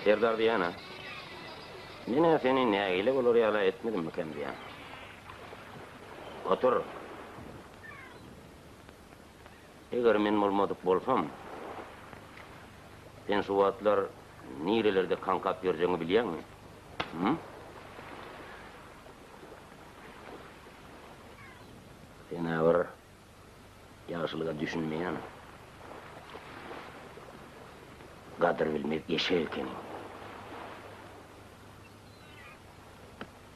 Serdar diýýän-ä. Men-ä seni nägile bolar ýala etmedimmikäm diýýän. Otur. Eger men bolmadyk bolsam, sen şu wagtlar nirelerde kaňkap ýörjegiňi bilýäňmi? Hum? Sen-ä bir ýagşylyga düşünmeýän, gadyr bilmez eşek ekeniň.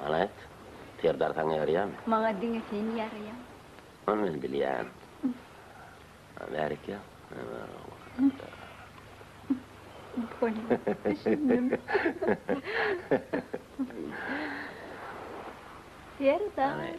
Maňa aýt, Serdar saňa ýaraýamy? Maňa diňe sen ýaraýaň. Ony men bilýän. Bärik gel. Serdar.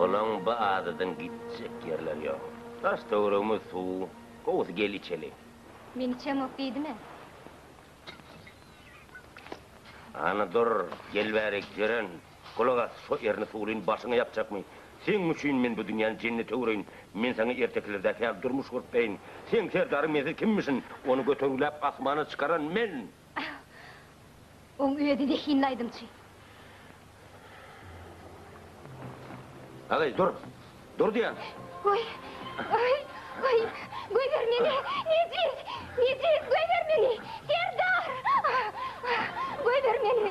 Olaň bu adadan gitjek ýerleri ýok. Daş-töweregimiz suw. Gowusy gel içeli. Men içemok diýdimä. Hany dur, gel bärik, Jeren, Gulak as, şo erini suwlyn başyňa ýapjakmy? Seň üçin men bu dünýäni jennet öwreýin. Men saňa ertekilerdäki ýaly durmuş gurup beýin. Seň serdaryň mensiz kimmişin? Ony götergiläp asmana çykaran men! Oň özi zehinli aýdymçy. Agaý, dur! Dur diýen. Goý. Goý. Goý. Goýber meni. Nejiz. Nejiz goýber meni. Serdar. Goýber meni.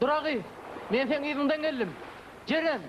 Dura gyz, men seň yzyňdan geldim. Jeren!